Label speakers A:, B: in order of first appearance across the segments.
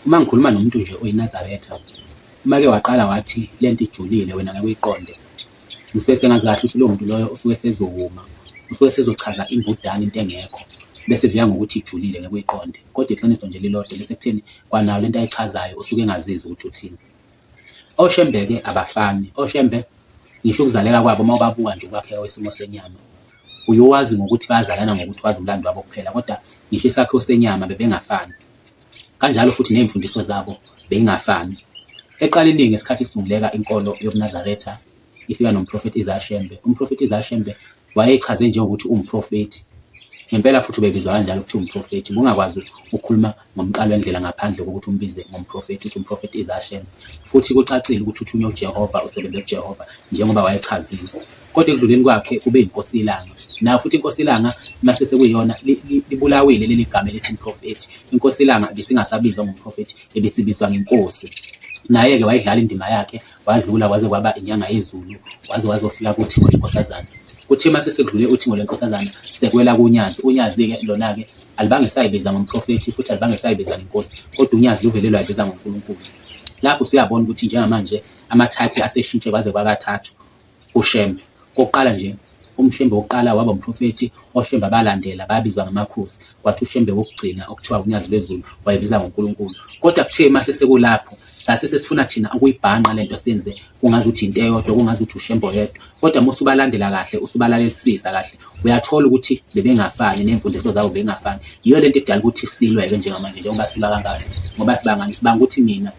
A: Uma ngikhuluma nomuntu nje oyinazaretha, uma ke waqala wathi le nto ijulile wena ngeke uyiqonde, ngisuke sengazi kahle ukuthi lowo muntu loyo usuke sezowuma, usuke sezochaza imbudane into engekho, bese kuvika ngokuthi ijulile ngeke uyiqonde. Kodwa iqiniso nje lilodwa lisekutheni kwanayo le nto ayichazayo usuke engazizwa ukuthi uthini. Oshembe-ke abafani, oshembe ngisho ukuzaleka kwabo uma ubabuka nje ukwakheka kwesimo senyama. Uyowazi ngokuthi bazalana ngokuthi wazi umlando wabo kuphela, kodwa ngisho isakhiwo senyama bebengafani. Kanjalo futhi nezimfundiso zabo beyingafani. Eqaleni ngesikhathi isunguleka inkolo yobuNazaretha ifika nomprofethi Isaiah Shembe. Umprofethi Isaiah Shembe wayechaze njengokuthi umprofethi. Ngempela futhi ubebizwa kanjalo ukuthi umprofethi. Ngokungakwazi ukukhuluma ngomqali wendlela ngaphandle kokuthi umbize ngomprofethi, uthi umprofethi is Hashem, futhi kucacile ukuthi uthunywe uJehova, usebenze kuJehova, njengoba wayechazile. Kodwa ekudluleni kwakhe ube inkosi ilanga. Nayo futhi inkosi ilanga mase sekuyiyona li- li- libulawile leli gama elithi umprofethi. Inkosi ilanga ibisingasabizwa ngomprofethi, ibisibizwa ngenkosi. Naye-ke wayidlala indima yakhe Wadlula kwaze kwaba inyanga yezulu waze wazofika kuthingo lenkosazana. Kuthe uma sesekudlule uthingo lwenkosazana sekwela kunyazi. Unyazi-ke lona-ke alibange sayibiza ngomprofethi futhi alibange sayibiza ngenkosi kodwa unyazi luvele lwayibiza ngonkulunkulu. Lapho usuyabona ukuthi njengamanje amathayiphi aseshintshe kwaze kwakathathu. uShembe. Okokuqala nje, uMshembe wokuqala waba umprofethi, oShembe abalandela babizwa ngamakhosi, kwathi uShembe wokugcina okuthiwa uNyazi lwezulu wayebiza ngoNkulunkulu. Kodwa kuthe uma sesekulapho sase sesifuna thina ukuyibhanqa lento senze kungazi ukuthi into eyodwa kungazi ukuthi ushembo yedwa kodwa uma usubalandela kahle usubalalelisisa kahle uyathola ukuthi bebengafani nemfundiso zabo bengafani yiyo lento edala ukuthi silwe-ke njengamanje njengoba siba kangaka ngoba sibangani sibanga ukuthi mina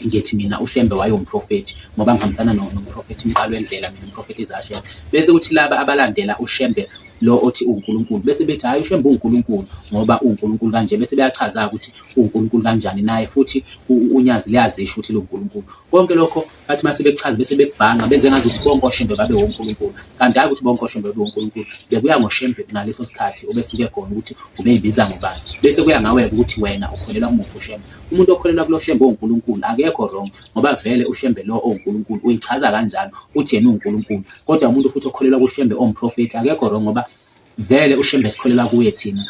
A: Ngithi mina uShembe wayewumprofethi ngoba ngihambisana no- nomprofethi Mqalwendlela mina umprofethi Zashel. Bese kuthi laba abalandela uShembe lo othi uwuNkulunkulu bese bethi hhayi uShembe uwuNkulunkulu ngoba uwuNkulunkulu kanje bese beyachaza ukuthi uwuNkulunkulu kanjani naye futhi u- u- uNyazi liyazisho ukuthi luwuNkulunkulu. Konke lokho bathi uma sebekuchaza bese bekubhanqa benze ngazi ukuthi bonke oShembe babe woNkulunkulu kanti hhayi ukuthi bonke oShembe babe woNkulunkulu bekuya ngoShembe ngaleso sikhathi obesuke khona ukuthi ubeyibiza ngobani bese kuya ngawe-ke ukuthi wena ukholelwa kumuphi uShembe. Umuntu okholelwa kulo Shembe onguNkulunkulu akekho wrong ngoba vele uShembe lo onguNkulunkulu uyichaza kanjalo uthi yena unguNkulunkulu kodwa umuntu futhi okholelwa kuShembe omprofeti akekho wrong ngoba vele uShembe sikholelwa kuye thina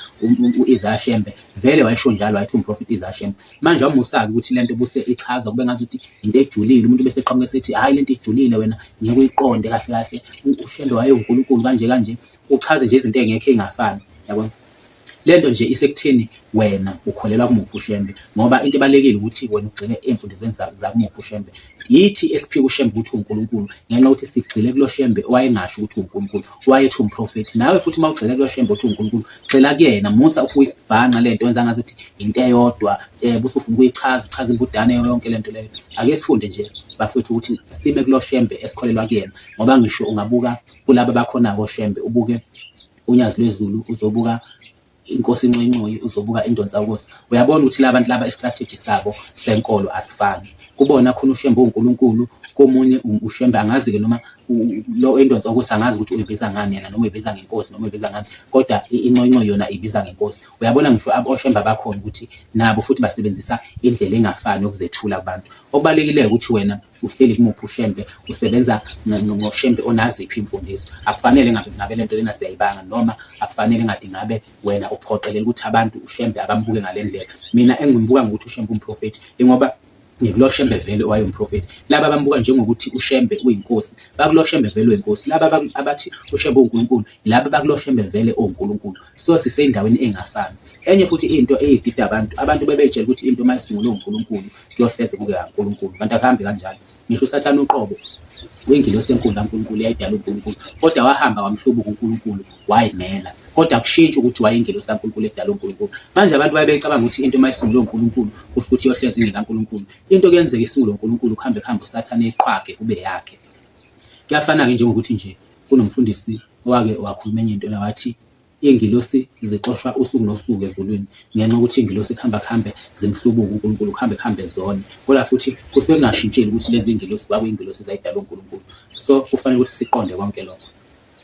A: u-Isaya Shembe vele wayesho njalo wayethi umprofeti Isaya Shembe manje wamusabi ukuthi lento buse ichaza kube ngazi ukuthi into ejulile umuntu bese eqhamuka esethi hayi lento ijulile wena ngeke uyiqonde kahle kahle uShembe waye uNkulunkulu kanje kanje uchaze nje izinto engekho ingafani yabona Lento nje isekutheni wena ukholelwa kumuphi uShembe ngoba into ebalekile ukuthi wena ugxile emfundisweni zakumuphi uShembe. Yithi esiphika uShembe ukuthi uNkulunkulu ngenxa yokuthi sigxile kulo Shembe owayengasho ukuthi uNkulunkulu wayethi umprofethi. Nawe futhi uma ugxile kulo Shembe uthi uNkulunkulu gxila kuyena musa ukuyibhanqa lento wenza ngathi ukuthi into eyodwa eh busufuna ukuyichaza uchaza imbudane yonke lento leyo. Ake sifunde nje bafethu ukuthi sime kulo Shembe esikholelwa kuyena ngoba ngisho ungabuka kulabo bakhona ko Shembe ubuke unyazi lwezulu uzobuka inkosi incoyincoyi uzobuka indonsa ukosi uyabona ukuthi labantu laba istrategy sabo senkolo asifani kubona khona ushembe uNkulunkulu komunye ushembe angazi ke noma lo endonsa ukuthi angazi ukuthi uyibiza ngani yena noma uyibiza ngenkosi noma uyibiza ngani kodwa inconco yona ibiza ngenkosi uyabona ngisho aboshemba bakhona ukuthi nabo futhi basebenzisa indlela engafani yokuzethula kubantu Okubalulekileyo ukuthi wena uhleli kumuphi ushembe, usebenza ngoshembe onaziphi imfundiso. Akufanele ngabe ngabe lento lena siyayibanga noma akufanele ngathi ngabe wena uphoqelela ukuthi abantu ushembe abambuke ngalendlela. Mina engimbuka ngokuthi ushembe umprofethi ingoba ngikulo shembe vele owayewumprofethi laba abambuka njengokuthi ushembe uyinkosi bakulo shembe vele uyinkosi laba abathi ushembe unkulunkulu Laba bakuloshembe vele onkulunkulu so sisendaweni engafani enye futhi into eyidida abantu abantu bebetshela ukuthi into uma isungulwe unkulunkulu kuyohleze kube kankulunkulu kanti akuhambi kanjalo ngisho usathane uqobo uyingilosi enkulu kankulunkulu yayidala unkulunkulu kodwa wahamba wamhlubuka unkulunkulu wayimela kodwa kushintshi ukuthi wayingelosi kaNkulunkulu edala uNkulunkulu manje abantu baye becabanga ukuthi into uma isungulwe uNkulunkulu kusho ukuthi yohlezi ingekaNkulunkulu into kuyenzeka isungulwe uNkulunkulu kuhambe kuhambe usathane iqhwage kube yakhe kuyafana-ke njengokuthi nje Kunomfundisi owake wakhuluma enye into la wathi iy'ngilosi zixoshwa usuku nosuku ezulwini ngenxa yokuthi iy'ngilosi kuhamba kuhambe zimhlubuke uNkulunkulu, kuhambe kuhambe zone. Kodwa futhi kusuke kungashintshile ukuthi lezi iy'ngilosi kwakuyingilosi ezayidalwa uNkulunkulu. So kufanele ukuthi siqonde konke lokho.